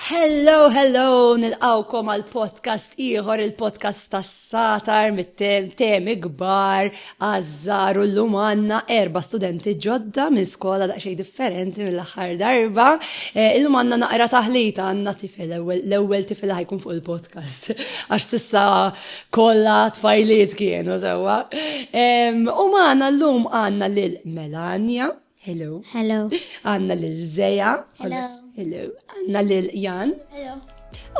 Hello, hello, nil-għawkom għal podcast iħor, il-podcast tas satar mit-temi gbar, għazzar u l-lum għanna erba studenti ġodda minn skola daqxej differenti mill-axar darba. E, il-lum għanna naqra taħlita għanna tifel, l-ewel tifel ħajkun fuq il-podcast. Għax sissa Kolla tfajliet kienu sewa. U maħna l-lum għanna lil Melania. Hello. Hello. Għanna lil Zeja. Hello. Hello. Għanna lil Jan. Hello.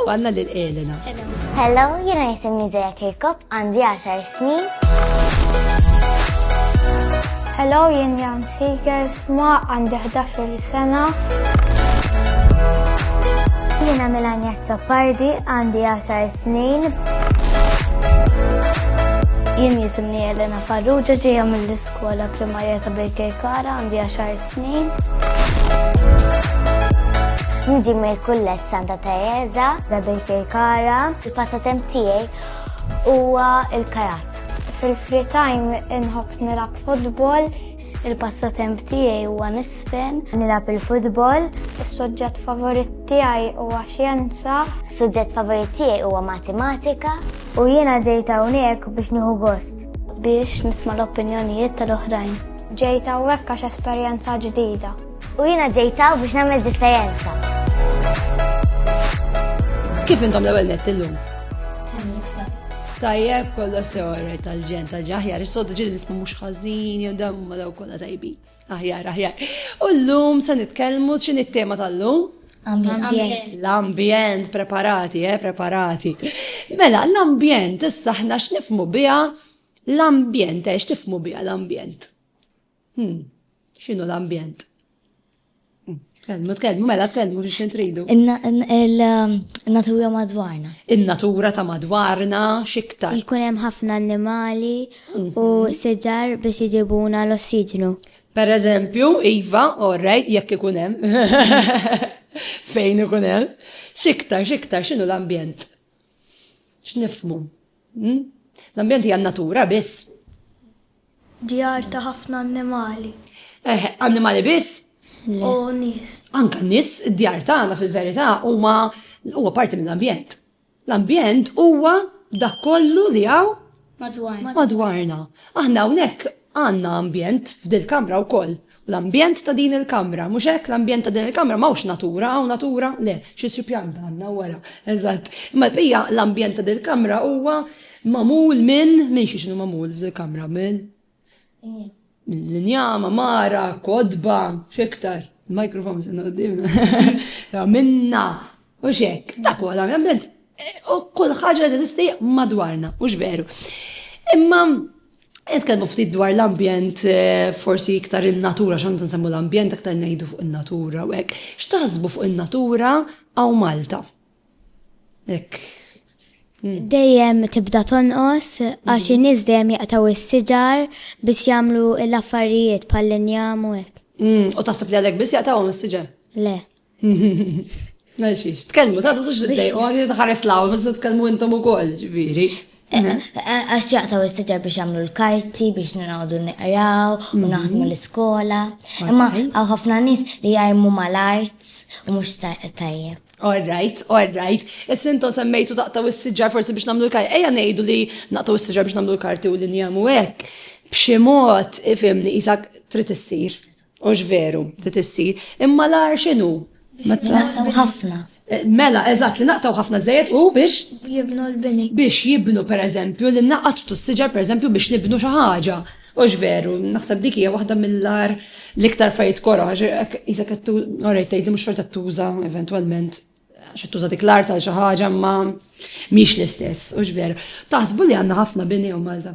U għanna lil Elena. Hello. Hello, jena jisimni Zeja Kirkop, għandi 10 snin. Hello, jien Jan Seekers, Ma għandi 11 sena. Jiena Melania Tappardi għandi 10 snin. Jien jisimni Elena Farrugia ġejja mill-iskola primarja ta' Baker Kara għandi 10 snin. Nġi mill-kullet Santa Teresa da Baker Kara. Il-passatemp tiegħi huwa il-karat. Fil-free time inħobb nilgħab futbol. Il-passatemp tiegħi huwa nisfen, nilgħab il-futbol. Is-suġġett favorit tiegħi huwa xjenza. Is-suġġett favorit tiegħi huwa matematika. U jiena ġejt hawnhekk biex nieħu gost. Biex nisma' l-opinjonijiet tal-oħrajn. Ġejt hawnhekk għax esperjenza ġdida. U jiena ġejt hawn biex nagħmel differenza. Kif intom l-ewwel nett illum? Tajjeb kollox sew għarrej tal-ġen tal-ġaħjar, is-sod ġil nisma mhux ħażin jew dam ma daw kollha tajbin. Aħjar, aħjar. U llum se nitkellmu x'in it-tema tal-lum? Ambjent. L-ambjent, preparati, eh, preparati. Mela, l-ambjent, issa ħna x'nifmu biha l-ambjent, eh, x'tifmu biha l-ambjent. Hmm, xinu l-ambjent? Tkellmu, tkellmu, mela tkellmu biex intridu. Il-natura um, madwarna. Il-natura ta' madwarna xiktar. Ikun hemm ħafna annimali u mhm. seġar biex iġibuna l-ossiġnu. Per eżempju, Iva, orrejt, jekk ikun hemm. Fejn ikun hemm. Xiktar, xiktar, x'inhu l-ambjent? X'nifmu? Hmm? L-ambjent hija natura biss. Djar ta' ħafna annimali. Eh, annimali biss? U nis. Anka nis, djar tagħna fil-verità huma huwa parti mill-ambjent. L-ambjent huwa dak kollu li hawn madwarna. Aħna hawnhekk Għandna ambjent f'dil-Kamra wkoll. U l-ambjent ta' din il-Kamra, mhux hekk? L-ambjent ta' din il-Kamra m'hawnx natura, hawn natura? Le, xi xi pjanta għandna wara. Eżatt. Imma l-bqija, l-ambjent ta' dil-Kamra huwa magħmul minn, minn xi x'inhu magħmul f'dil-Kamra? Minn? Mill-injam, għamara, kotba, x'iktar? Il-microphone se qudiemna. Minna, U xek, dak huwa dan l-ambjent. U kull ħaġa li teżisti madwarna, mhux veru. Imma Nitkellmu ftit dwar l-ambjent, eh, forsi iktar il-natura, xan nsemmu l-ambjent, iktar nejdu fuq il-natura, u hekk. X'taħsbu fuq il-natura għaw Malta? Ek. Hmm. Dejjem tibda tonqos, għax hmm. in-nies dejjem jaqtaw is-siġar biex jagħmlu l-affarijiet bħal-linjam u hekk. Hmm, u taħseb li għalek biss jaqtawhom is-siġar? Le. Mexi, tkellmu, ta' tux id-dej, u għagħi tħares law, ma t tkellmu intom u koll, ġviri. Eh, mhm. eh, għax jaqtaw istaġar biex għamlu l-karti, biex nħawdu n-nqraw, u mhm. naħdmu l-iskola. Imma għaw ħafna nis li jgħajmu mal-art u mux tajjeb. All right, all right. Is-sinto semmejtu taqtaw is-siġar forsi biex namlu l-karti. Eja nejdu li naqtaw is-siġar biex namlu l-karti u li njamu hekk. B'xi mod ifimni isak trid issir. Hux veru, trid issir, imma l-għar x'inhu? Naqtaw ħafna. Eh, mela, eżatt, li naqtaw ħafna żejjed u biex. Jibnu l-bini. Biex jibnu, per eżempju, li naqaċtu s-siġar, per eżempju, biex nibnu xi ħaġa. Ux veru, naħseb dik hija waħda mill-ar l-iktar fajt kora, jisa kattu, orajt, li mux xorta tuża, eventualment, xa tuża dik l-ar tal ħaġa ma miex l-istess, ux veru. Taħsbu li għanna ħafna bini u Malta.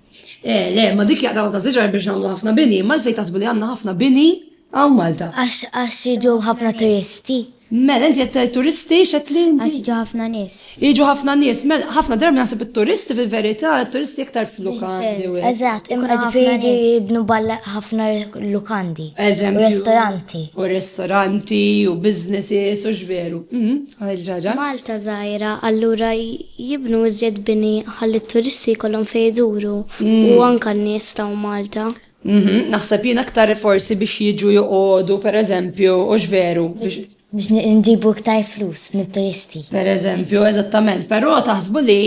Eh, le, ma dik jaqdaw ta' ziġar biex namlu ħafna bini, ma l-fej tasbu li għanna ħafna bini għaw Malta. Għax għax jiġu ħafna turisti. Mela, inti jett turisti xeklin. Għax jiġu ħafna nis. Jiġu ħafna nis, mela, ħafna darbi naħseb il-turisti fil-verita, il-turisti iktar fil-lukandi. Eżat, imma ġifiri jibnu balla ħafna lukandi. Eżem. Restoranti. U restoranti, u businesses, u ġveru. Mhm, Malta zaħira, allura Jibnu iżjed bini ħalli t-turisti jkollhom fejn iduru u anke n-nies ta' Malta. Naħseb jien aktar forsi biex jiġu joqogħdu pereżempju hux veru? Biex nġibu iktar flus mit-turisti. Pereżempju, eżattament. Però taħsbu li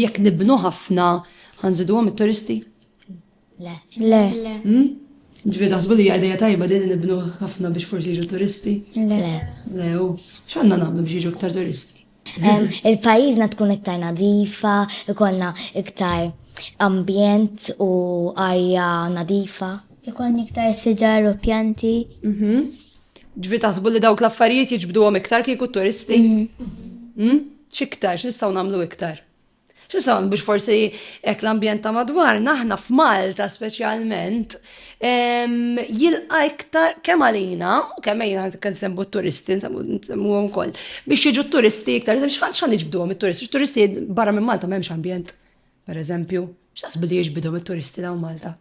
jekk nibnu ħafna ħanżiduhom it-turisti? Le. Le. Hmm? Ġifieri taħsbu li hija idea tajba din nibnu ħafna biex forsi jiġu turisti? Le. Le, u x'għandna nagħmlu biex jiġu iktar turisti? Il-pajjiżna tkun iktar nadifa, ikollna iktar ambjent u arja nadifa. Ikon iktar siġar u pjanti. Mhm. Ġifieri taħsbu li dawk l-affarijiet jiġbduhom iktar kieku turisti? Mhm. Hmm? X'iktar, x'nistgħu nagħmlu iktar? X'isem biex forsi hekk l-ambjent ta' madwarna aħna f'Malta speċjalment jilqa' iktar kemm għalina u kemm ejna kemm sembu t-turisti nsemmuhom ukoll biex jiġu t-turisti iktar x'għan iġbduhom it-turisti. Turisti barra minn Malta m'hemmx ambjent, pereżempju, x'taħsbu li jiġbidhom it-turisti dawn Malta?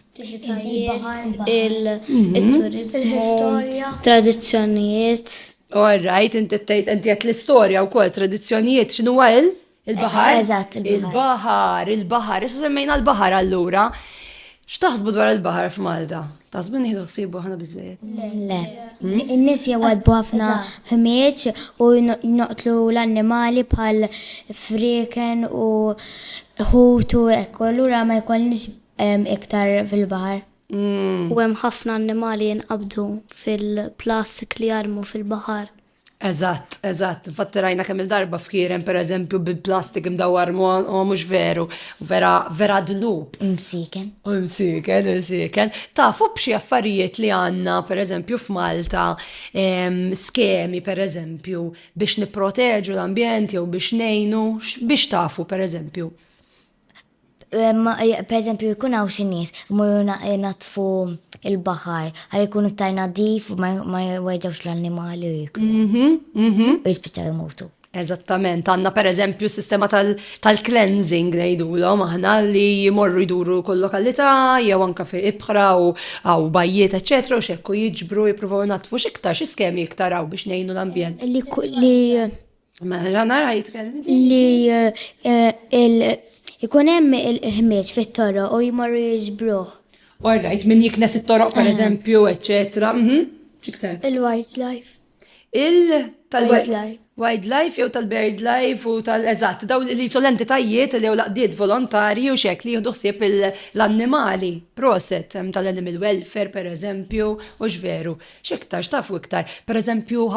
attivitajiet, il-turizmu, mhm. tradizzjonijiet. All right, inti tgħid inti qed l-istorja wkoll tradizzjonijiet x'inhu il il-baħar? Eżatt, il-baħar. Il-baħar, issa semmejna l-baħar allura. X'taħsbu dwar il-baħar f'Malta? Taħsbu nieħdu ħsibu ħana biżejjed? Le. In-nies jewwadbu ħafna ħmieġ u noqtlu l-annimali bħal friken u ħutu ekku, allura ma jkollniex Hemm iktar fil-baħar. U hemm ħafna annimali jinqabdu fil-plastik li jarmu fil-baħar. Eżatt, eżatt. Infatti rajna kemm il-darba fkieren per eżempju bil-plastik imdawwar mu mhux veru, vera vera dnub. Imsiken. U imsiken, imsiken. Tafu b'xi affarijiet li għandna per eżempju f'Malta skemi per eżempju biex nipproteġu l-ambjent jew biex nejnu biex tafu per eżempju. Per eżempju, jkun hawn xi nies imorru jnaddfu il-baħar għal jkun iktar nadif u ma jwerġawx l-annimali u jiklu. Mhm, mhm. U jispiċċaw jmutu. Eżattament, għanna per eżempju s-sistema tal-cleansing tal nejdulom, aħna li jimorru jduru kull lokalità, jew anka fi ibħra u għaw bajjiet, ecc. u xekku jiġbru jipruvaw natfu xiktar, xi skemi iktar għaw biex nejnu l-ambjent. Li Ma ġanara jitkellem. Li eh, eh, il- ikun hemm il-ħmieġ fit-toro u jmorru jiġbruh. All right, minn jiknes it-toroq per eżempju, eccetera. Mhm. Ċiktar. Il-wildlife. Il tal Wildlife. wildlife jew tal-bird life u tal-eżatt, daw li sol entitajiet li jew laqdiet volontari u xek li jieħdu ħsieb il- l-annimali, proset em, tal-animal welfare per eżempju, u xveru. X'iktar, x'tafu iktar, pereżempju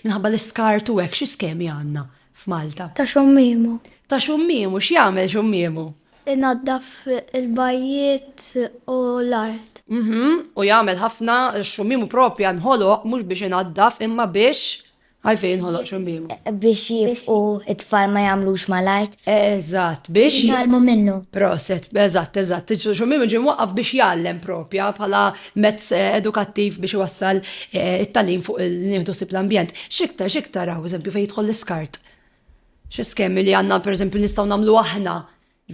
minħabba l-iskart u hekk xi skemi għandna f'Malta? Ta' xummimu. Ta' xummimu, x'jagħmel xummimu? Inaddaf il-bajjiet u l-art. Mhm, u jagħmel ħafna xummimu propja nħoloq mhux biex inaddaf imma biex Għalfejn ħoloq xumbimu. Eh, biex jifqu it-tfal ma jamlux mal-art. Eżatt, biex. Jgħalmu minnu. Proset, eżatt, eżatt. Xumbimu ġim waqqaf biex jgħallem propja bħala mezz eh, edukattiv biex wassal eh, it-talim fuq il-nieħdu sib l-ambjent. Xiktar, xiktar għaw, eżempju, fejn jidħol l-iskart. Xi skemi li għanna, per eżempju, nistaw namlu aħna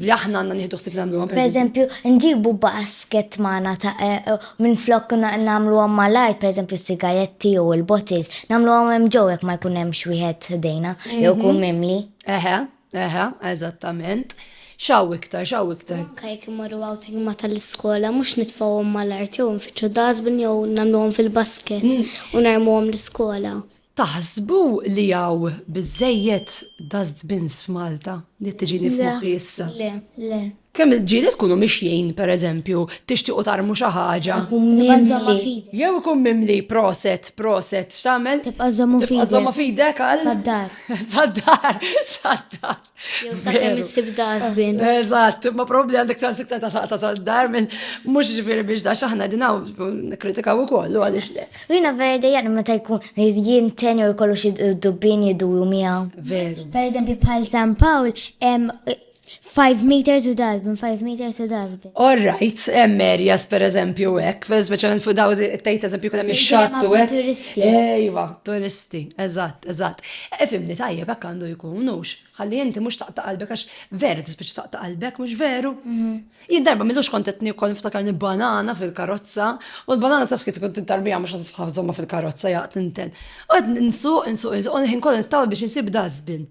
li aħna għanna nieħdu ħsib nagħmlu għam. Pereżempju, nġibu basket magħna ta' eh, eh, minn flok nagħmlu għam mal-art, pereżempju sigaretti u l-bottles, nagħmlu għam hemm ġew jekk ma jkun hemm xwieħed ħdejna jew mhm. kun mimli. Eħe, eħe, eżattament. Xaw iktar, xaw iktar. Kajk imorru għawting ma tal-iskola, mux nitfawom mal-art, jew nfittxu dasbin jew namluwom fil-basket, mm. u narmuwom l-iskola. Taħsbu li hawn biżżejjed dustbins f'Malta? Li qed tiġini f'moħħi issa. Le, le. Kemm il-ġieli tkunu mixjin, pereżempju, tixtiequ tarmu xi ħaġa. Jew ikun mimli proset, proset, x'tagħmel? Tibqa' żommu fidek. Tibqa' żommu fidek għal? Sad-dar. Sad-dar, sad-dar. Jew sa' kemm issib dasbin. Eżatt, ma probabli għandek ċans iktar ta' saqta sa' dar minn mhux ġifieri biex da xaħna dinaw kritikaw ukoll u għaliex le. Jiena vera dejjem meta jkun jien ten jew ikollu xi dubbin jiduru miegħu. Veru. Per eżempju bħal San Pawl hemm 5 meters u dazbin, 5 meters u dazbin. All right, hemm areas per eżempju hekk, speċjalment fuq daw tgħid eżempju kien hemm ix-xatt u hekk. Ejwa, turisti, eżatt, eżatt. Ifimni tajjeb hekk għandu jkun hux. Ħalli inti mhux taqta' qalbek għax veru tispiċċa taqta' qalbek, mhux veru? Mhm. Jien darba m'illux kont qed niekkol niftakarni banana fil-karozza u l-banana taf kif tkun tintarbija mhux qed tħażhomha fil-karozza jaqt inten. Qed nsuq, nsuq, nsuq, u ħin kollu nittawa biex insib dustbin.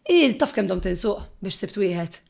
Il taf kemm dom tinsuq biex sibt wieħed.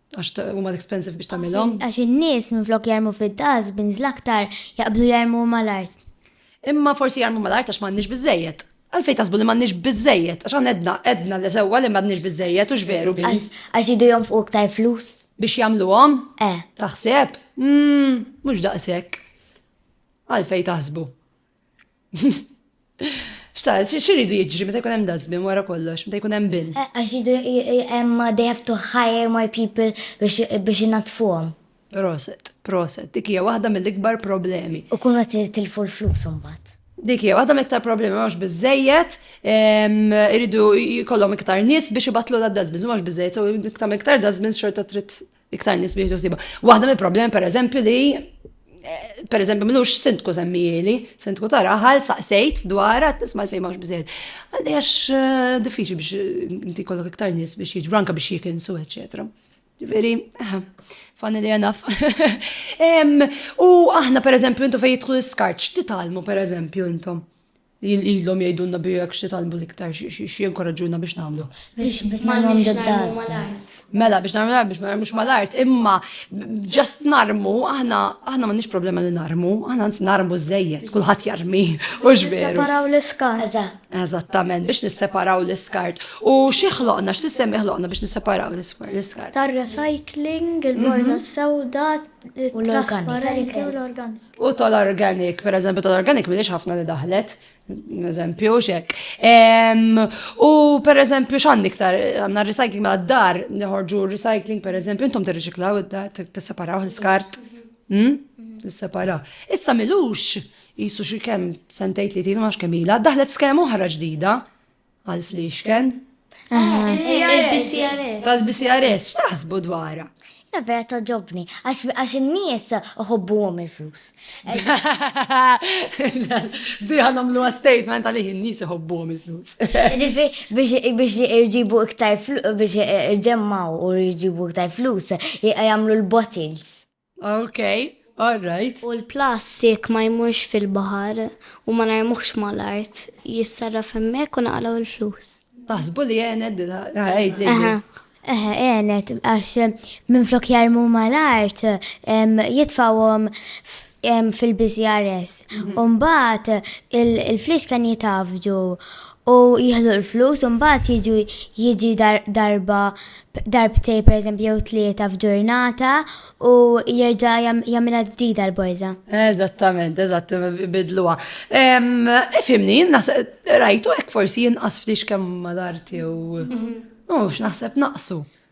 Għax huma expensive biex tagħmilhom. Għax in-nies minflok jarmu fid-das bin aktar jaqblu jarmu mal-art. Imma forsi jarmu mal-art għax m'għandniex biżejjed. Għalfej tasbu li m'għandniex biżejjed, għax għan edna, edna li sewwa li m'għandniex biżejjed, ux veru biz. Għax jidu jom fuq iktar flus. Biex jagħmluhom? Eh. Taħseb? Mmm, mhux daqshekk. Għalfej taħsbu. Xta, xiridu jiġri meta jkun hemm dustbin wara kollox, meta jkun hemm bin? Eh, għax jidu hemm uh, they have to hire more people biex inatfuhom. Proset, proset, dik hija waħda mill-ikbar problemi. U kun qed tilfu l-flus imbagħad. Dik hija waħda mill-iktar problemi mhux biżejjed, iridu jkollhom iktar nies biex ibatlu l-dustbins, mhux biżejjed, u iktar iktar dustbins xorta trid Iktar nies biex tuħsiba. Waħda mill problem per eżempju li eh, per eżempju mlux sindku semmijeli, sindku ta' raħal, saqsejt dwar għat nisma l-fejn maħx bżed. Għalli għax eh, diffiċi biex eh, inti kollok iktar nies biex jiġbru anka biex jikinsu, eccetera. Ġifiri, fanni li għanaf. U aħna, per eżempju, intu fej jitħu l-skarċ, titalmu, per eżempju, intom. Ilhom jgħidulna bi jekk x'nitgħallmu l-iktar x'jinkoraġġuna biex nagħmlu. Biex ma nagħmlu mal-art. Mela biex nagħmlu biex ma nagħmlux mal-art, imma ġast narmu aħna aħna m'għandniex problema li narmu, aħna nsi narmu żejjed, kulħadd jarmi u ġveru. Separaw l-iskart. Eżattament, biex nisseparaw l-iskart. U xi ħloqna, x'sistemi ħloqna biex nisseparaw l-iskart? Tar-recycling, il-borza mhm. sewda, u l-organik. U tal-organic, per eżempju, tal-organic minix ħafna li daħlet, eżempju, xek. U per eżempju, xan iktar, għanna recycling ma' d-dar, nħorġu recycling, per eżempju, intom t-reċiklaw id-dar, t-separaw l-skart. Hmm? T-separaw. Issa milux, jisu xie kem sentajt li tinu maċ kemila, daħlet skema oħra ġdida, Għal fliexken? Il-BCRS. Tal-BCRS, x'taħsbu dwarha? Na vera ta' ġobni, għax n-nies uħobbu għom il-flus. Di għanom l statement għalih n-nies uħobbu għom il-flus. Ġifi, biex irġibu iktar flus, biex irġemmaw u irġibu iktar flus, jgħamlu l-bottles. Ok, all right. U l-plastik ma jmurx fil-baħar u ma narmuhx mal-art, jissarraf hemmhekk u naqalgħu il-flus. Taħsbu li għenet dila, għajd li. Eħe, eħe, għenet, għax minn flok jarmu mal-art, jitfawom fil-BCRS. Umbat, il-flix kan jitafġu u jieħdu l-flus u mbagħad jiġu jiġi darba darbtej pereżempju jew tlieta f'ġurnata u jerġa' jagħmilha ġdida l-borża. Eżattament, eżatt bidluha. Ifimni, rajtu hekk forsi jinqas ftit kemm ma darti u mhm. mhux naħseb naqsu.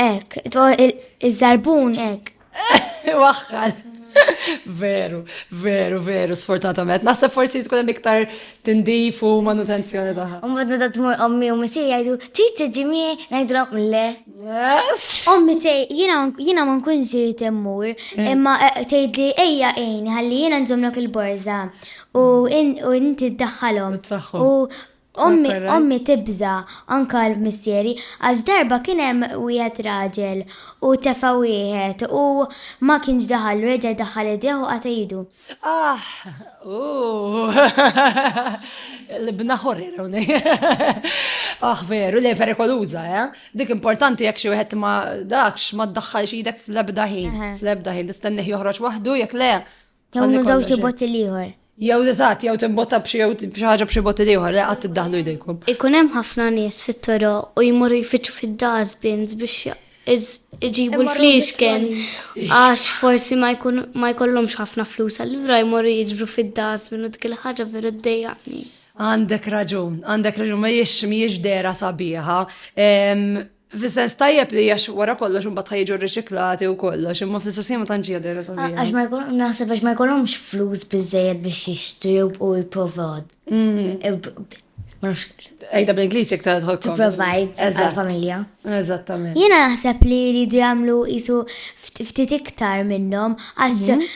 Ek, iż-żarbun ek. Waħħal. Veru, veru, veru, sfortunatament. Naħseb forsi tkun hemm iktar tindif u manutenzjoni taħħa. U mbagħad meta tmur ommi u misir jgħidu, trid tiġi miegħi ngħidlhom le. Ommi tej, jiena ma nkunx irid immur, hmm. imma eh, tgħidli ejja għin ħalli jiena nżommlok il-borża u inti ddaħħalhom. U Ommi, ommi tibża' anka l-missieri għax darba kien hemm wieħed raġel u tefa' wieħed u ma kienx daħal u reġa' jdaħħal idejh u qata' idu. Aħ! Ooh! L-ibna ħorir hawnhekk. Aħ veru, le perikoluża, eh? Dik importanti jekk xi wieħed ma dakx ma ddaħħalx idek fl-ebda ħin, fl-ebda ħin, tistennih joħroġ waħdu jekk le Tewmu żewġ botti l-ieħor. Jew eżatt, jew timbotta b'xi jew b'xi ħaġa b'xi botti ieħor, le qatt iddaħlu jdejkom. Ikun hemm ħafna nies fit-toro u jmorru jfittxu fid-dustbins biex iġibu l-fliexken għax forsi ma jkollhomx ħafna flus, allura jmorru jiġbru fid-dustbin u dik il-ħaġa veru ddejjaqni. Għandek raġun, għandek raġun, ma jiex miex dera sabiħa. Fis-sens tajjeb li għax wara kollox imbagħad ħajġu riċiklati u kollox, imma fis-sens ma tantx hija dejra sabiħa. Għax ma jkun naħseb għax ma jkollhomx flus biżejjed biex jixtru u jipprovad. Ejda bl-Ingliż jekk tara tħodd. Provide għall-familja. Eżattament. Jiena naħseb li jridu jagħmlu isu ftit iktar minnhom għax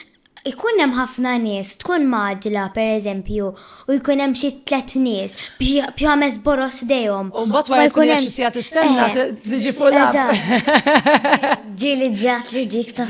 Ikun hemm ħafna nies, tkun magħġla pereżempju, u jkun hemm xi tliet nies biex ħames boros dejhom. U mbagħad wara jkun hemm xi sija tistenna eh, tiġi fuq. Ġieli ġat li dik ta'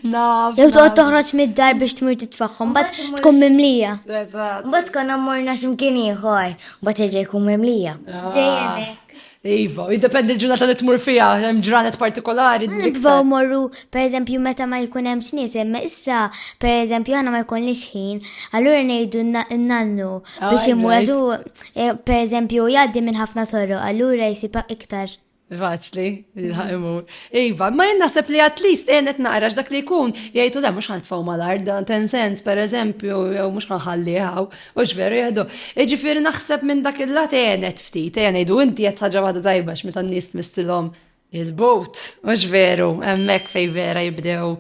Naf. Jew toqgħod toħroġ mid-dar biex tmur titfaħħom, bat tkun mimlija. Bat tkun ammorna x'imkien ieħor, bat ġej jkun mimlija. Ah. Iva, jiddependi l-ġurnata li tmur fija, hemm ġranet partikolari. Nibżgħu morru, pereżempju meta ma jkun hemm x'nies, imma issa pereżempju għandna ma jkunniex ħin, allura ngħidu n-nannu ah, biex imur għaxu eh, pereżempju jgħaddi minn ħafna torru, allura jsibha iktar. Faċli, jilħaq mhm. imur. Iva, ma jien naħseb li at least għenet naqra dak li jkun jgħidu da mhux ħantfaw mal-arda, ten sens pereżempju, jew mhux ħanħalliha Mhux veru jgħidu. Jiġifieri naħseb minn dak il-lat għenet ftit, ejja ngħidu inti qed ħaġa waħda tajba x'meta n-nies tmissilhom il-bot, mhux veru, hemmhekk fejn vera jibdew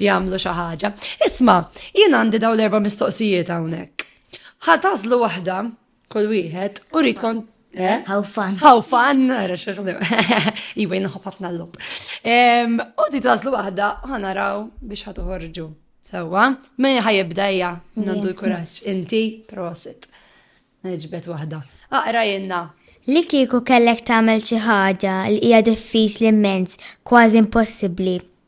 jagħmlu xi ħaġa. Isma', jien għandi dawn l-erba' mistoqsijiet hawnhekk. Ħa tażlu waħda kull wieħed u rrid Eh? How fun. How fun, għara xeħdu. Iwa jinħob ħafna l-lub. U di tażlu waħda, ħanaraw biex ħatuħorġu. Sawa, minn ħajibdajja, nandu l-kuraċ. Inti, prosit. Neġbet waħda. Aqra jenna. Li kieku kellek tagħmel xi ħaġa li hija diffiċli immens, kważi impossibbli,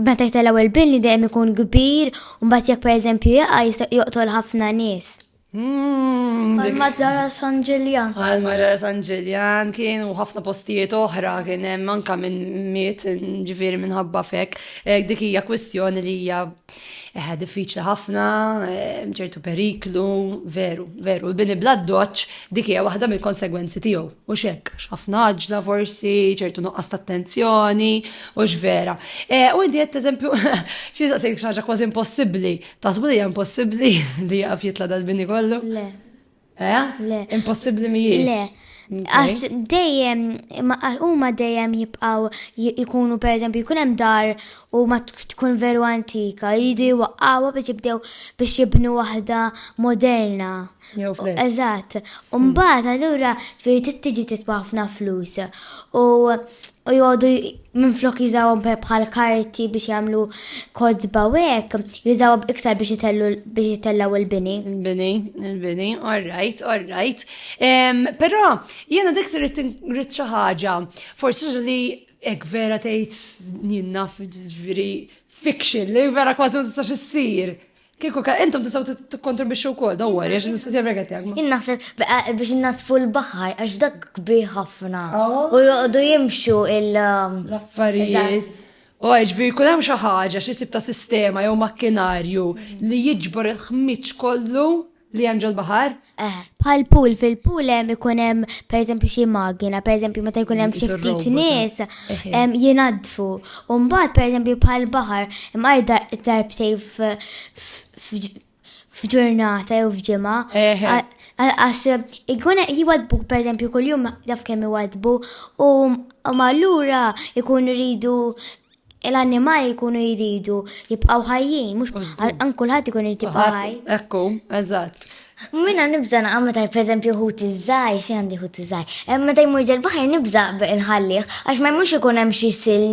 meta jtellgħu il-bini dejjem ikun kbir, u mbagħad jekk pereżempju jaqa' jista' joqtol ħafna nies. Hmm, Għal Madara San Ġiljan. Għal Madara San Ġiljan kien u ħafna postijiet oħra kien hemm anka minn miet ġifieri minħabba fek. Eh, dik hija kwistjoni li hija eh, diffiċli ħafna, eh, ċertu periklu, veru, veru. Il-bini bla doċ dik hija waħda mill-konsegwenzi tiegħu. U xek, ħafna ġla forsi, ċertu nuqqas ta' attenzjoni, Hux vera. Eh, u inti qed eżempju, xi saqsejk xaġa kważi impossibbli. Tasbu li hija impossibbli li jaqaf jitla dal-bini kollu? Le. Eh? Le. Impossibbli mhijiex. Le. Għax dejjem, huma dejjem jibqaw jikunu per eżempju jkun hemm dar u ma tkun veru antika, jidu jwaqqawha biex jibdew biex jibnu waħda moderna. Jew flex. Eżatt. U mbagħad allura ġifieri trid tiġi tiswa ħafna flus. U u jgħodu minn flok jużawhom pe- bħal karti biex jagħmlu kodba u hekk, jużawhom iktar biex itellu biex itellaw il-bini. Il-bini, il-bini, all right, all right. Em, Però jiena dik se rrid rrid xi ħaġa, forsi xi li hekk vera tgħid jien naf ġifieri fiction li vera kważi ma tistax issir. Kieku ka, intom tistaw tikkontribixxu wkoll, don't worry, għax nistgħu jemreket jagħmlu. Jien naħseb biex innatfu l-baħar għax dak kbi ħafna. Oh. U joqogħdu jimxu il- um, L-affarijiet. U għajġvi, kun hemm xi ħaġa, xi tip ta' sistema jew makkinarju li jiġbor il-ħmiġ kollu li hemm ġol-baħar? Eh, bħal pool fil-pool hemm ikun hemm pereżempju xi magina, pereżempju meta jkun hemm xi ftit nies hemm jingħadfu. U mbagħad pereżempju bħal baħar hemm għajda darb sejf f'ġurnata jew f'ġimgħa. Għax ikun jwadbu pereżempju kuljum daf kemm iwadbu u ma allura ikun iridu l-annimali jkunu jridu jibqaw ħajjin, mux għan kullħat jkun jrid jibqa ħaj. Ekku, eżatt. Minna nibza naqqa meta per eżempju ħut iż-żaj, xi għandi ħut iż-żaj. Eh, meta jmur ġel baħar nibza nħallih, għax ma jmux ikun hemm xi sil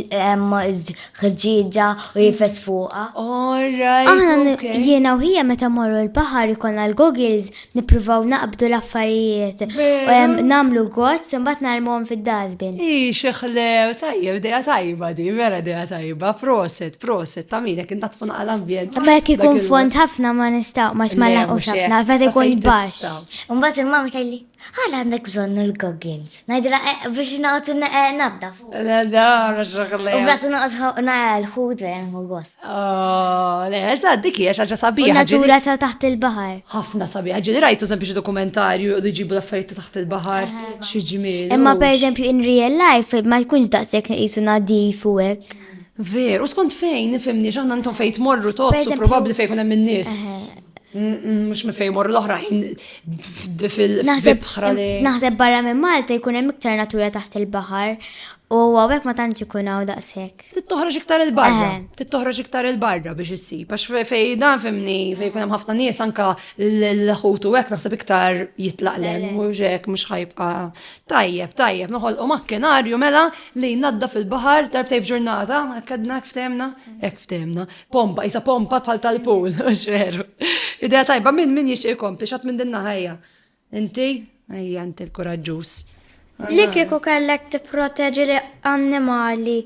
ħġieġa u jifes fuqha. Aħna jiena u ħija meta morru l-baħar ikollna l-goggles nippruvaw naqbdu l-affarijiet u namlu gozz imbagħad narmuhom fid-dasbin. Hi xeħlew tajjeb dejja tajba di, vera dejja tajba, proset, proset, ta' minek inta tfun għal ambjent. Ma jekk ikun fond ħafna ma nistgħu ma ma laqgħux ħafna, fed ikun baxx. Imbagħad il-mama tgħidli, għal għandek bżonn il-goggles. Najdra eh, biex naqt eh, nabda fuq. Le, da, raxakle. U blas naqt nara l-ħut vera nħu gost. Oh, le, eżad, diki, xaġa sabiħa. Natura ta' taħt il-bahar. ħafna sabiħa, ġili rajtu sempliċi dokumentarju u jġibu l-affarijiet ta' taħt il-bahar, xieġmil. Imma per eżempju, in real life, ma jkunx daqsek jisu nadif u ek. Ver, u skont fejn, nifimni, ġanna ntom fejt morru tozzu, probabli fejn kunem minnis. mux minn fejn morru l-oħrajn fil-bħra li. Naħseb barra minn Malta jkun hemm iktar natura taħt il-baħar u għawek ma tantx ikun hawn daqshekk. Tittoħroġ iktar il-barra. Eh. Tittoħroġ iktar il-barra biex issib. Għax fej dan fimni fej kun hemm ħafna nies anka l-ħut u hekk naħseb iktar jitlaq lem u hekk mhux ħajbqa' tajjeb tajjeb noħolqu makkinarju mela li jnadda fil-baħar darbtej f'ġurnata, hekk għedna hekk ftemna, hekk ftemna. pompa, jisa pompa bħal tal-pool, mux veru. Ideja tajba, minn minn jixtieq ikompli, xat minn dinna ħajja. Inti, ħajja, inti l-kuraġġuż. Li kieku kellek tipproteġi li annimali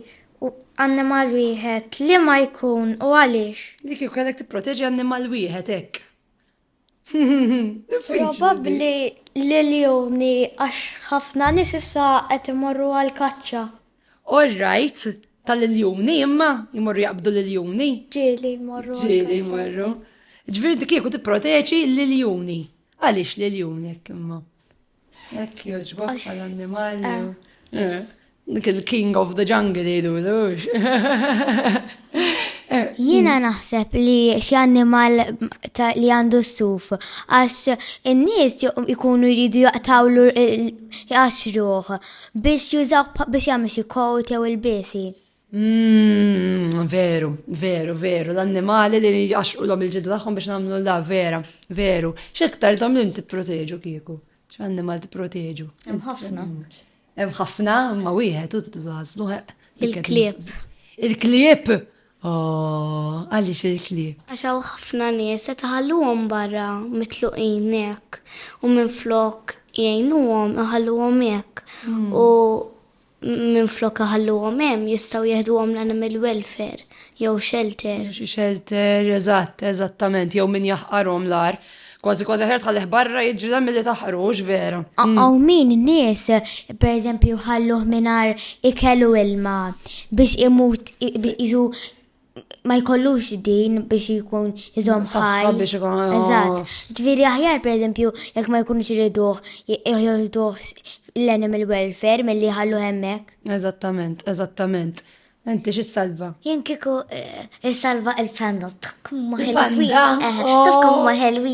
u annimal wieħed li ma jkun u għaliex? Li kieku kellek tipproteġi annimal wieħed hekk. Probabbli l-iljuni għax ħafna nies issa qed imorru għall-kaċċa. All right, tal-iljuni imma jmorru jaqbdu l-iljuni. Ġieli jmorru. Ġieli jmorru. Ġifieri dik kieku tipproteġi l-iljuni. Għaliex l-iljuni hekk imma? Hekk jogħġbok għall-annimali. Eh. Eh, dik il-king of the jungle jgħidu lux. Eh, Jiena mm. naħseb li xi annimal li għandu s-suf, għax in-nies ikunu jridu jaqtawlu jaqxruh biex jużaw biex jagħmel xi kowt jew il-bisi. Mmm, veru, veru, veru, l-annimali li jaxqu l il-ġidda tagħhom biex nagħmlu la vera, veru. X'iktar dom li tipproteġu kieku? X'annimal tipproteġu? Hemm ħafna. Hemm ħafna, ma wieħed u titgħażlu Il-klieb. Il-klieb! Oh, għaliex il-klieb. Għax hawn ħafna nies se taħalluhom barra mitluqin hekk u minn flok jgħinuhom iħalluhom hekk. Hmm. U Minflok iħalluhom hemm jistgħu jeħduhom l-animal welfare jew shelter. Xi shelter, eżatt, eżattament, jew min jaħqarhom l-ar. Kważi kważi ħer tħallih barra jiġri milli taħqrux vera. Għaw min nies, per eżempju, ħalluh minar ikelu ilma biex imut jizu ma jkollux din biex jkun jizom ħaj. biex jkun Eżatt. Ġviri aħjar, per eżempju, jekk ma jkunux iriduħ, jħjoħduħ l-animal welfare mill-li ħallu hemmek. Eżattament, eżattament. Enti xi salva? Jien kiku eh, salva il-panda, tafkum ma ħelwi. Tafkum ma ħelwi.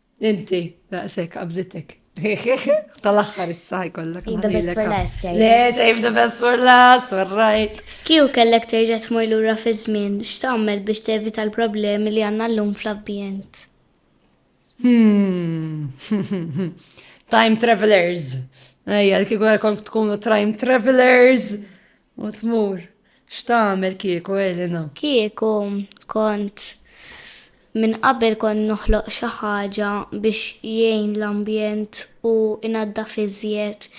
Inti, daqsek, qabżitek. Tal-axħar issa jkollok. The best for last, eh? Le, save the best for last, all right. Kiju kellek terġa tmur lura fi żmien, x'tagħmel biex tevita l-problemi li għandna llum fl-ambjent? Hmm. Time travelers. Ejja, l-kiku għalkom tkunu time travelers. U tmur, x'tagħmel kieku Elena? Kieku kont minn qabel kont noħloq xi ħaġa biex jgħin l-ambjent u inaddaf iżjed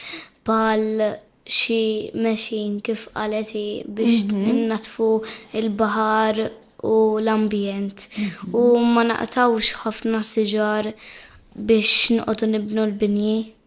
bħal xi mexin kif qalet biex mhm. natfu il-baħar u l-ambjent. Mhm. U ma naqtawx ħafna siġar biex nqodu nibnu l-binji.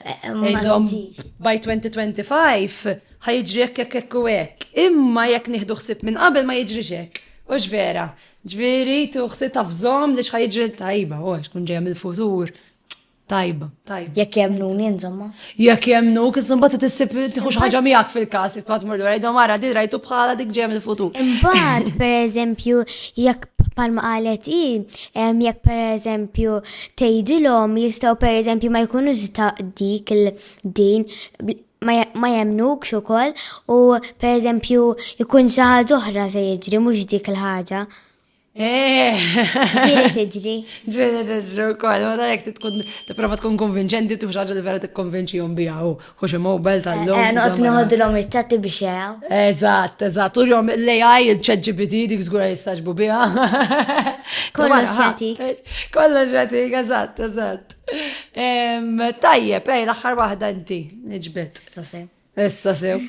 Ejdom by 2025 ħajġri jekk jekk jekk u hekk. Imma jekk nieħdu ħsib minn qabel ma jiġri hekk. Ux vera. Ġviri, tuħsi tafżom li xħajġri tajba, u kun ġeja mill-futur. Tajba, tajba. Jekk jemnu insomma. Jekk jemnu, kisum bat t-tissib tħux ħagġa miegħek fil-kas, jitkwat murdu għajdu mara, di rajtu bħala dik ġeja mill-futur. Imbagħad, per eżempju, jekk palma qalet i, jekk per eżempju tgħidilhom jistgħu per eżempju ma jkunux ta' dik il-din ma jemnukx ukoll u per eżempju jkun xi ħaġa oħra se jiġri mhux dik il-ħaġa. Eh! Ġiri tiġri. Ġiri tiġri u koll, ma dalek tkun t-prova tkun konvinċenti u tuħx ħagġa li vera t-konvinċi jom bija u Hux mobile tal-lum. Eh, noqt noħodilhom it-tatti biex jaraw. Eżatt, eżatt. U jom l-AI, il-chat GPT, dik żgura jistaġbu biha. Kollox xatik. Kollox xatik, eżatt, eżatt. Tajjeb, ej, l-aħħar waħda inti, nġbet. Issa sew. Issa sew.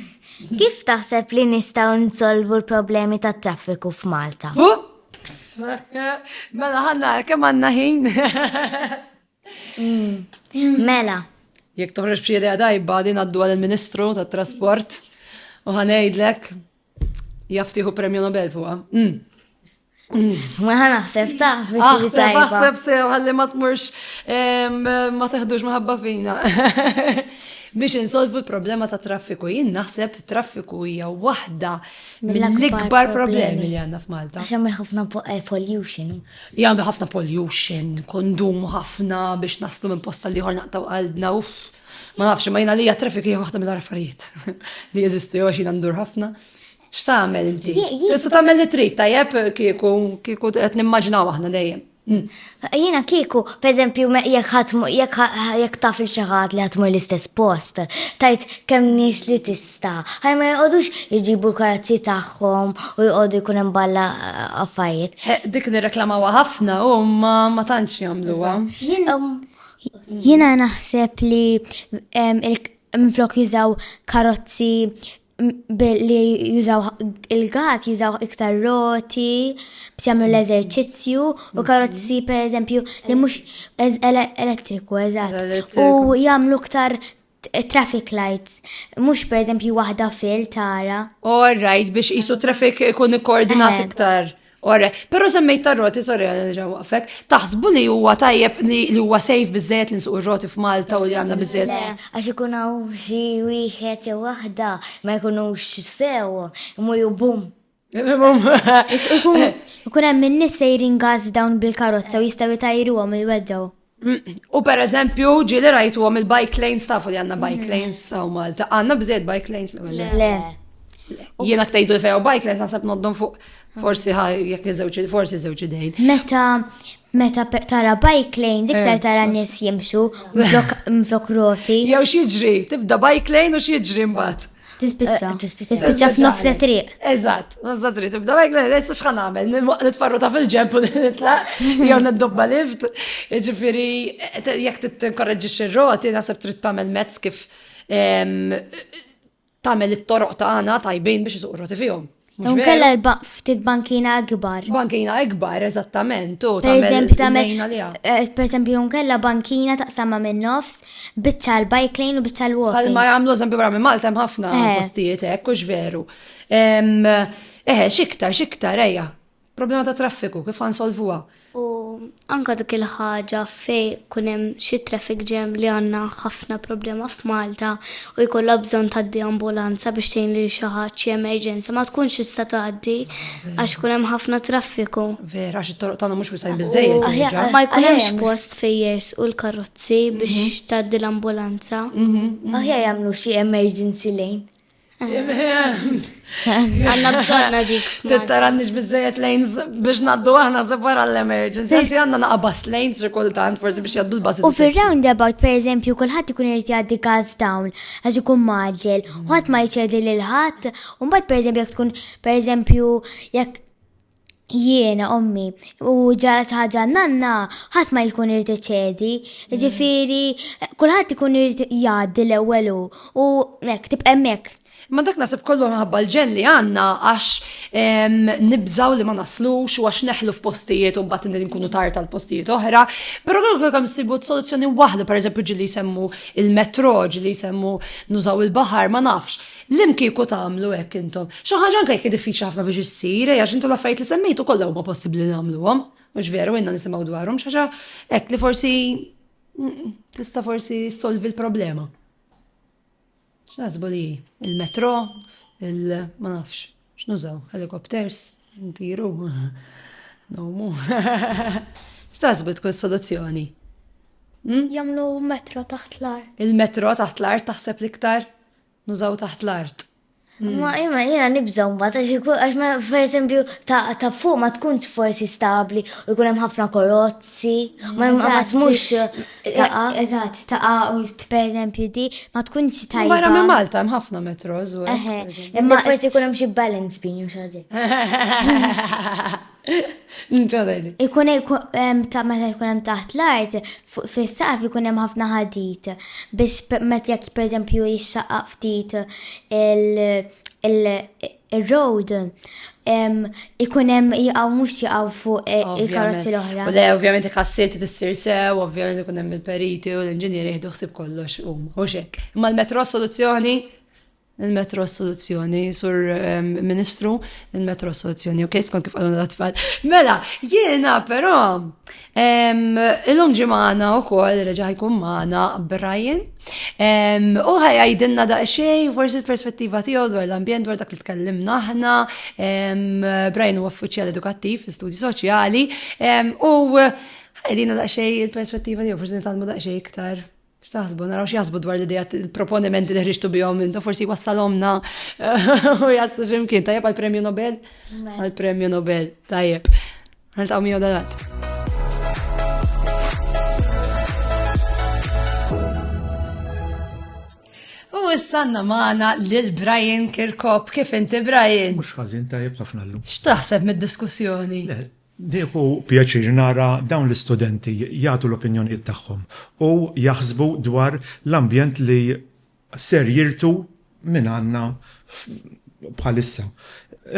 Kif taħseb li nistgħu nsolvu l-problemi tat-traffiku f'Malta? Mela ħanna kemm għandna ħin. Mm. Mela. Jek toħroġ b'xi idea tajba din għaddu għal il-Ministru tat-Trasport u ħanejdlek jaftiħu premju Nobel fuqha. Mm. Ma ħan naħseb ta' Aħseb, aħseb sew, għalli ma tmurx ma teħdux maħabba fina. Biex insolvu l-problema ta' traffiku, jien naħseb traffiku hija waħda mill-ikbar problemi li għandna f'Malta. Għax hemm ħafna eh, pollution. Jagħmlu ħafna pollution, kondumu ħafna biex naslu minn posta li ħor naqtaw qalbna, uff. Ma nafx, ma jina li traffic hija waħda mill-affarijiet li jeżistu jew xina ndur ħafna. X'tagħmel inti? Tista' tagħmel li trid tajjeb kieku kieku qed nimmaġinaw aħna dejjem. Mm. Jina kieku, per eżempju, jekk taf il-ċaħat li ħatmu l-istess post, tajt kem nis li tis ta' ħaj ma jqodux jġibu l-karazzi tagħhom u jqodu jkun hemm balla eh, affarijiet. Eh, dik nirreklamawa ħafna u ma tantx jagħmluha. Jiena naħseb li minflok jużaw karozzi billi jużaw il-gas, jużaw iktar roti, biex jagħmlu l-eżerċizzju u karozzi per eżempju li mhux elettriku eżatt. U jagħmlu iktar Traffic lights, mhux pereżempju waħda fil tara. All right, biex qisu traffic ikun ikkoordinat eh. iktar. Ora, pero semmejt tar-roti, sorry, ġawafek, taħsbu li huwa tajjeb li huwa sejf bizzet li nsuq roti f'Malta u li għandna bizzet. Għax ikun hawn xi wieħed jew waħda ma jkunux sew, imur bum. Ikun hemm in-nies sejrin gażi dawn bil-karozza u jistgħu jtajruhom il-weġġgħu. U per eżempju, ġili rajtu għom il-bike lanes tafu li għanna bike mm. lanes sa' Malta. Għanna bżed bike lanes l Le. Jiena ktajdu li fejaw bike lanes għasab noddon fuq forsi ħaj jek zewċi, forsi zewċi dejn. Meta Meta tara bike lanes, iktar eh, tara nies jimxu mflok roti. Jew xieġri, tibda bike lane u xieġri mbagħad. Tispiċċa. Eh, Tispiċċa f'nofs triq. Eżatt, nofs triq. Tibda bike lane, issa x'ħan nagħmel? Nitfarru ta' fil-ġemp u nitlaq, jew niddobba lift. Ġifieri, jekk titkorreġġi xi roti, naħseb trid tagħmel mezz kif Tagħmel it-toroq tagħna tajbin biex isuq roti fihom. Mhux kella ftit bankina akbar. Bankina akbar, eżattament, u per eżempju tagħmel eh, per eżempju nkella bankina taqsamha minn nofs biċċa l-bike lane u biċċa l-walk. Għal ma jagħmlu eżempju barra minn Malta hemm ħafna eh. postijiet hekk hux veru. Eh, xiktar, xiktar, ejja. Problema ta' traffiku, kif ħa nsolvuha? U anke dik il-ħaġa fejn kun hemm xi traffic jam li għandna ħafna problema f'Malta u jkollha bżonn tgħaddi ambulanza biex tgħin lil xi ħadd xi emerġenza ma tkunx tista' tgħaddi għax kun hemm ħafna traffiku. Vera, għax it-toroq tagħna mhux wisajn biżejjed. Ma jkun hemmx post fejn jers u l-karozzi biex mhm. tgħaddi l-ambulanza. Mhm, mhm. Aħjar jagħmlu xi emergency lane. Għanna bżonna dik. Tittarannix bizzejet lanes biex naddu għahna separ għall-emergency. Għanzi għanna naqa bus lanes rikultant, forse biex jaddu l-bus. U fil-roundabout, per eżempju, kullħat ikun irrit jaddi gas down, għax ikun maġġel, u għat ma jċedi l-ħat, un bat per eżempju, jek tkun, per eżempju, jek jiena ommi u ġara xi ħaġa nanna ħadd ma jkun irid iċedi. Ġifieri kulħadd ikun irid jgħaddi l-ewwel u hekk tibqa' hemmhekk. Ma dak nasib kollu minħabba l-ġelli għandna għax nibżaw li ma naslux u għax neħlu f'postijiet u mbagħad nkunu tar tal-postijiet oħra. Però kollu kemm sibu soluzzjoni waħda, pereżempju ġilli jsemmu il-metro, ġilli jsemmu nużaw il-baħar, ma nafx. Lim kieku tagħmlu hekk intom? Xi ħaġa anke jekk diffiċli ħafna biex issir, għax intu l-affarijiet li semmejtu kollha huma possibbli li nagħmluhom. Mhux veru inna nisimgħu dwarhom xi ħaġa hekk li forsi tista' forsi solvi l-problema. X'naħsbu li il-metro, il-ma nafx, x'nużaw, helikopters, ntiru, nomu. X'taħsbu tkun soluzzjoni? Hmm? Jamlu metro taħt l-art. Il-metro taħt l-art taħseb l-iktar? Nużaw taħt l-art. Ma imma jiena nibżgħu mbagħad għax ma pereżempju ta' fuq ma tkunx forsi stabbli u jkun hemm ħafna korozzi, ma ma tmux taqa'. Eżatt, taqa' u pereżempju di ma tkunx tajba. Barra minn Malta hemm ħafna metros u. Imma forsi jkun hemm xi balance beam xi ħaġa. Ikun ta' meta jkun hemm taħt l-art, fis-saqaf ikun hemm ħafna ħadid biex meta jekk pereżempju jixxaqaq ftit il-road ikun hemm jaqgħu mhux jaqgħu fuq eh, il-karozzi l-oħra. Le, ovvjament kassiet tissir sew, ovvjament ikun hemm il-periti u l-inġinieri jieħdu ħsib kollox huma, u xek. Imma l-metro soluzzjoni Il-metro soluzzjoni, sur ehm, ministru, il-metro soluzzjoni, ok, skont kif għalun l-atfall. Mela, jiena però, ehm, il-lum ġimana u koll reġa ħajkun maħna Brian, ehm, u ħajajdinna da xej, forsi l-perspettiva tiegħu dwar l-ambjent, dwar dak li tkellimna aħna, Brian u uffiċjal edukattiv fi studi soċjali, u ħajdinna da xej il-perspettiva tiegħu, forsi nitalmu da xej iktar X'taħsbu, naraw x'jaħsbu dwar l-idea il-proponimenti li ħriġtu bihom intu forsi wassalhomna u jaslu x'imkien tajjeb għall-Premju Nobel? Għall-Premju Nobel, tajjeb. Niltaqgħu miegħu dalat. U issanna maħna lil Brian Kirkop, kif inti Brian? Mux ħazin tajjeb ħafna l-lum. X'taħseb mid-diskussjoni? Nieħu pjaċir nara dawn l-istudenti jagħtu l-opinjonijiet tagħhom u jaħsbu dwar l-ambjent li ser jirtu mingħandna bħalissa.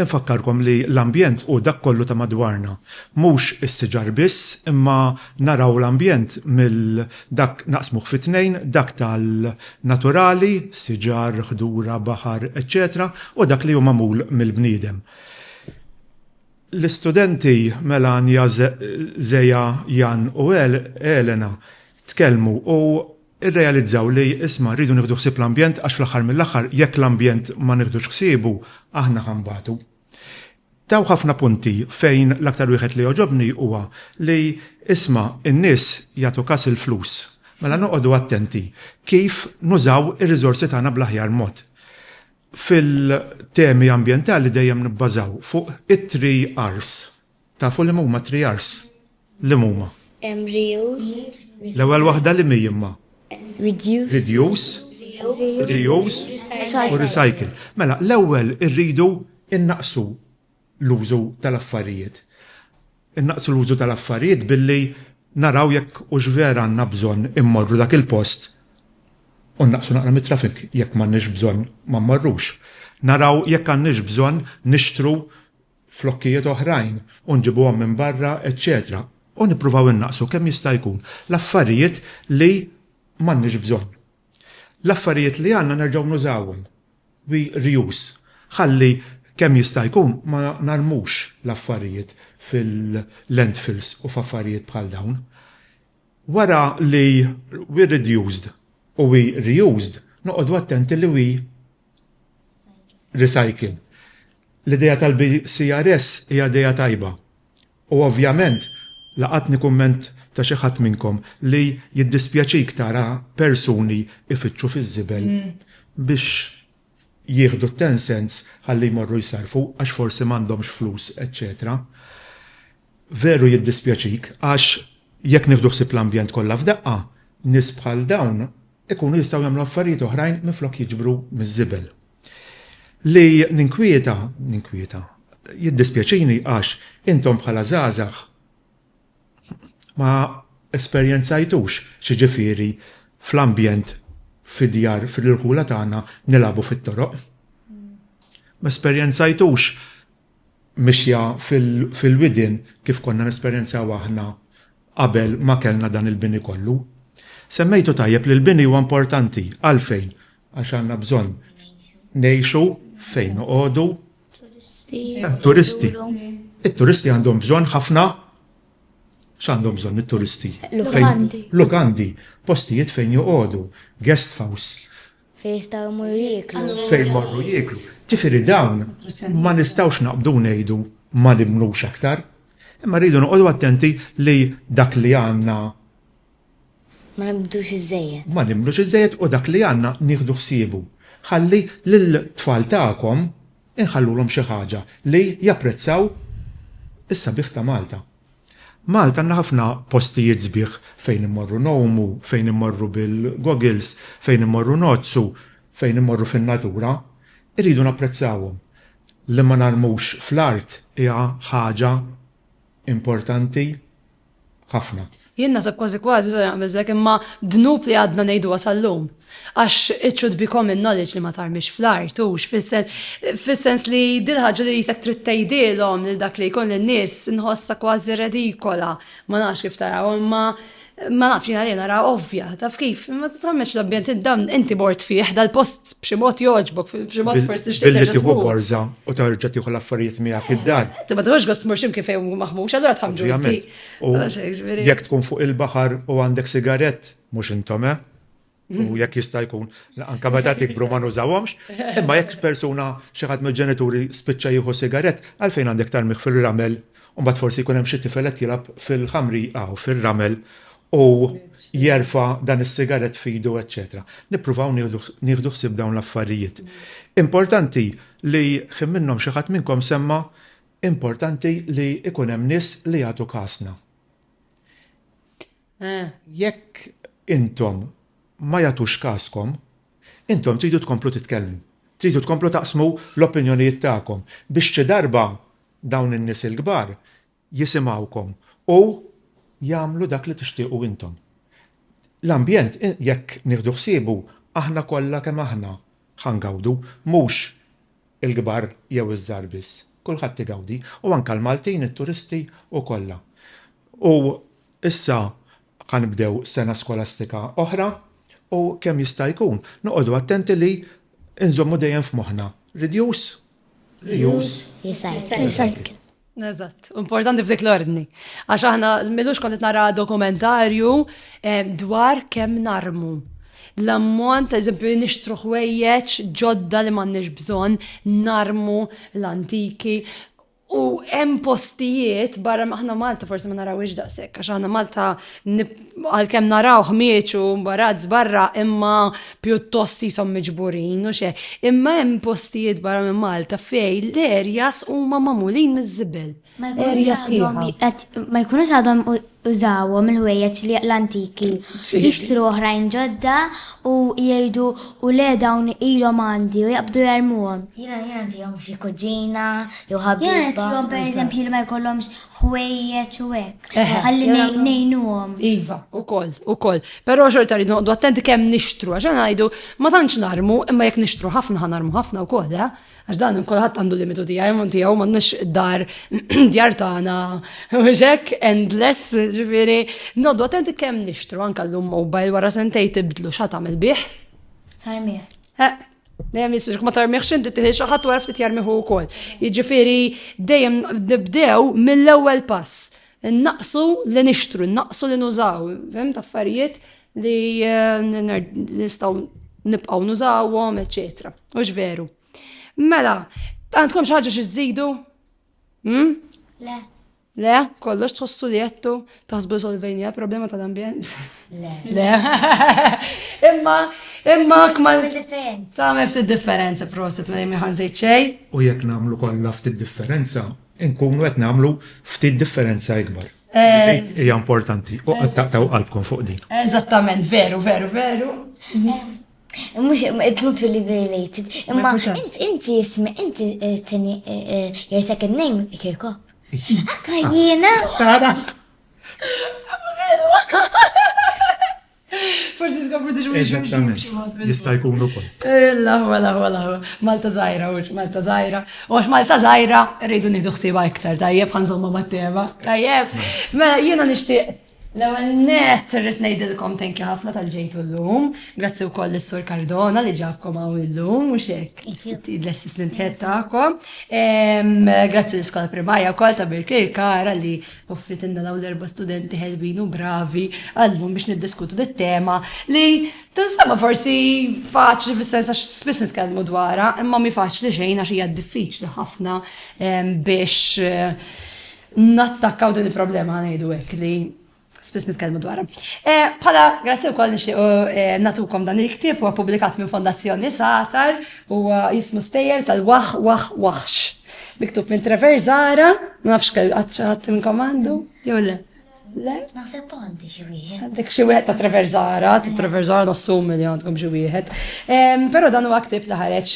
Infakkarkom li l-ambjent hu dak kollu ta' madwarna. Mhux is-siġar biss, imma naraw l-ambjent mill dak naqsmuh fi tnejn, dak tal-naturali, siġar, ħdura, baħar, eċċetera u dak li hu magħmul mill-bniedem. L-istudenti Melania Zea, Jan u Elena tkellmu u rrealizzaw li isma' rridu nieħdu ħsieb l-ambjent għax fl-aħħar mill-aħħar jekk l-ambjent ma nieħdux ħsiebu aħna ħa nbatu. Taw ħafna punti fejn l-aktar wieħed li għoġobni huwa li isma' n-nies jagħtu kas il-flus. Mela noqogħdu attenti kif nużaw ir-riżorsi tagħna bl-aħjar mod. Fil-temi ambjentali dejjem nibbażaw fuq it-three R's. Tafu liema huma t-three R's? Liema huma? Reuse. L-ewwel waħda liema hi imma? Reduce. Reduce, reuse u recycle. Mela, l-ewwel irridu nnaqqsu. l-użu tal-affarijiet. Innaqqsu l-użu tal-affarijiet billi naraw jekk hux vera għandna bżonn immorru dak il-post u nnaqqsu naqra mit-traffic, jekk m'għandniex bżonn ma mmorrux. Naraw jekk għandniex bżonn nixtru flokkijiet oħrajn u nġibuhom minn barra, eċċetera U nippruvaw innaqqsu kemm jista' jkun l-affarijiet li m'għandniex bżonn. L-affarijiet li għandna nerġgħu nużawhom. We reuse. Ħalli kemm jista' jkun ma narmux l-affarijiet fil-landfills u f'affarijiet bħal dawn. Wara li we reduced u we reused, noqogħdu attenti li we recycle. L-idea tal-BCRS hija idea tajba. U ovvjament, laqatni kumment ta' xi ħadd minnkom li jiddispjaċik tara persuni ifittxu fiż-żibel biex jieħdu t-ten cents ħalli jmorru jsarrfu għax forsi m'għandhomx flus eċċetera. Veru jiddispjaċik għax jekk nieħdu ħsieb l-ambjent kollha f'daqqa, nies bħal dawn ikunu jistgħu jagħmlu affarijiet oħrajn minflok jiġbru miż-żibel. Li ninkwieta, ninkwieta, jiddispjaċini għax intom bħala żgħażagħ ma esperjenzajtux x'jiġifieri fl-ambjent fid-djar fil-irħula tagħna nilagħbu fit-toroq. Ma esperjenzajtux mixja fil-widien kif konna nesperjenzaw aħna qabel ma kellna dan il-bini kollu. Semmejtu tajjeb li l-bini huwa importanti. Għalfejn? Għax għandna bżonn ngħixu fejn noqogħdu. Turisti. Eh, turisti. It-turisti għandhom bżonn ħafna x'għandhom bżonn it-turisti? Lukandi. Lukandi, postijiet fejn joqogħdu, guest house. Fejn jistgħu jmorru jieklu. Fejn morru jieklu. Ġifieri dawn ma nistgħux naqbdu ngħidu ma nimlux aktar. Imma rridu noqogħdu attenti li dak li għandna Ma nibdux iżżejjed. Ma nibdux iżżejjed u dak li għandna nieħdu ħsiebu. Ħalli lill-tfal tagħkom inħallulhom xi ħaġa li japprezzaw is-sabiħ ta' Malta. Malta għandna ħafna postijiet sbieħ fejn immorru ngħumu, fejn immorru bil-goggles, fejn immorru ngħoddsu, fejn immorru fin-natura. Irridu napprezzawhom. Li ma narmux fl-art hija ħaġa importanti. ħafna. Jien naħseb kważi kważi so jaqbel zek imma dnub li għadna ngħidu għasallum. Għax it should be common knowledge li ma tarmix fl-art u fis-sens li dil-ħaġa li jisek trid tgħidilhom lil dak li jkun lin-nies nħossa kważi redikola. Ma nafx kif taraw imma ma nafx jina li nara ovvja, taf kif, ma t-tammeċ l-ambjent id-dam, inti bort fih, dal-post b'xi mod jogħġbok, b'xi mod forsi tixtieq. Billi tieħu borża u tarġa' tieħu l-affarijiet miegħek id-dar. Ti ma tmux gost mur ximkien fejn hu maħmux, allura tħamġu. Ah, jekk tkun fuq il-baħar u għandek sigarett, mhux intom, eh? U mhm. jekk jista' jkun, anka meta tikbru ma nużawhomx, imma jekk persuna xi ħadd mill-ġenituri spiċċa jieħu sigarett, għalfejn għandek tarmih fil-ramel, u mbagħad forsi jkun hemm xi tifel qed jilgħab fil-ħamri aw fil-ramel u jerfa dan is-sigaret fidu, eċċetera. Nippruvaw nieħdu ħsieb dawn l-affarijiet. Importanti li ħin minnhom xi ħadd minnkom semma importanti li ikun hemm nies li jagħtu kasna. Eh. Jekk intom ma jagħtux kaskom, intom tridu tkomplu titkellmu. Tridu tkomplu taqsmu l-opinjonijiet tagħkom biex xi darba dawn in-nies il-kbar jisimgħukom u jagħmlu dak li tixtiequ intom. L-ambjent jekk nieħdu ħsiebu aħna kollha kemm aħna ħa ngawdu, mhux il-kbar jew iż-żgħar biss, kulħadd igawdi u anke l-Maltin, it-turisti u kollha. U issa ħa nibdew sena skolastika oħra u kemm jista' jkun noqogħdu attenti li nżommu dejjem f'moħħna, reduce, Reuse, recycle. Eżatt, importanti f'dik l-ordni. Għax aħna millux kont nara dokumentarju eh, dwar kemm narmu. L-ammont, eżempju, nixtru ħwejjeġ ġodda li m'għandniex bżonn, narmu l-antiki, U hemm postijiet barra maħna Malta forsi ma narawiex daqshekk għax aħna Malta għalkemm naraw ħmieġ u mbarazz barra imma pjuttost jisom miġburin u xe. Imma hemm postijiet barra minn Malta fej l-erjas huma magħmulin miż-żibel. Erjas Ma jkunux għadhom użawhom il-ħwejjeġ li l-antiki. Jixtru oħrajn ġodda u jgħidu u le dawn ilhom għandi u jaqbdu jarmuhom. Jiena jiena ntihom xi kuġina jew ħabib. Jiena ntihom pereżempju li ma jkollhomx ħwejjeġ u hekk. Ħalli ngħinuhom. Iva, ukoll, ukoll. Però xorta rridu noqdu attenti kemm nixtru għax ngħidu ma tantx narmu imma jekk nixtru ħafna ħanarmu ħafna wkoll, eh? għax dan kulħadd għandu limitu tiegħi minn tiegħu m'għandniex dar djar tagħna mhux hekk endless, ġifieri noqdu attenti kemm nixtru anke llum mobile wara sentej tibdlu xa tagħmel bih. Tarmih. Eh, Dejjem jisbiex ma tarmiħx inti tiħi xi ħadd wara ftit jarmiħu wkoll. Jiġifieri dejjem nibdew mill-ewwel pass. Naqsu li nixtru, naqsu li nużaw, fim taffarijiet li eh, nistgħu nibqgħu nużawhom, eċetera. U veru. Mela, għandkom xi ħaġa xi żidu? Hmm? Le. Le, kollox tħossu li jettu taħsbu solvejni problema tal-ambjent. Le. Le. Imma, imma kman. Tagħmel ftit differenza proset ma jemmi ħanżejt xej. U jekk nagħmlu kollha ftit differenza, nkunu qed nagħmlu ftit differenza ikbar. Eh. Hija importanti u qed taqtaw qalbkom fuq din. Eżattament, veru, veru, veru. Mux, it's not really related. Imma, inti jismi, inti eh, tini, eh, your second name, Kirkop. Akka jiena? Tara. Forsi skopru diġu minn Jista' jkun ukoll. Laħwa, laħwa, laħwa. Malta zaħira, ux, Malta zaħira. U għax Malta zaħira, rridu nieħdu ħsiba iktar, tajjeb, ħanżomma mat-tema. Tajjeb, mela jiena nixtieq L-ewwel net irrid ngħidilkom thank you ħafna tal-ġejtu llum. Grazzi wkoll lis-Sur Cardona li ġabkom hawn illum u xek. L-assistent head tagħkom. Grazzi l-iskola primarja wkoll ta' Birkir Kara li offrit inna dawn l-erba' studenti ħelbin u bravi għallum biex niddiskutu dit-tema li tinsama forsi faċli fis-sens għax spiss nitkellmu dwarha, imma mi faċli xejn għax hija diffiċli ħafna biex nattakkaw din il-problema ngħidu hekk li spiss nitkellmu dwarha. Eh, pala, grazzi wkoll nixtieq eh, natukom dan il-ktieb huwa publikat minn Fondazzjoni Satar u jismu stejjer tal-Waħ Waħ Waħx. Miktub minn Trevor Zara, ma nafx kell għadd minnkom għandu, jew le. Le? Naħseb għandi xi wieħed. Għandek xi wieħed ta' Treverzara, ta' Treverzara nassum li għandkom xi wieħed. Però dan huwa ktib li ħareġ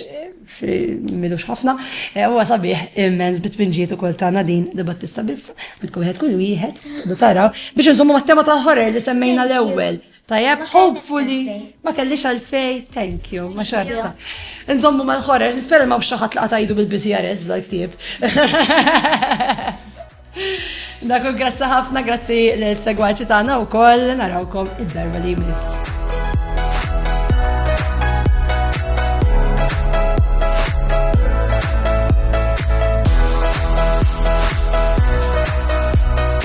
milux ħafna, e, huwa sabiħ immens bitpinġiet ukoll ta' Nadin li Battista Biffa, bitkom wieħed kull wieħed, taraw, biex insomma mat-tema tal-ħorer li semmejna l-ewwel. Tajab, hopefully, ma kellix għalfej, thank you, ma xarta. Nżommu ma l-ħorer, nispera ma xaħat li għatajdu bil-BCRS bla ktib. Dakul, grazzi ħafna, grazzi l-segwaċi tagħna u koll, narawkom id-darba li jmiss.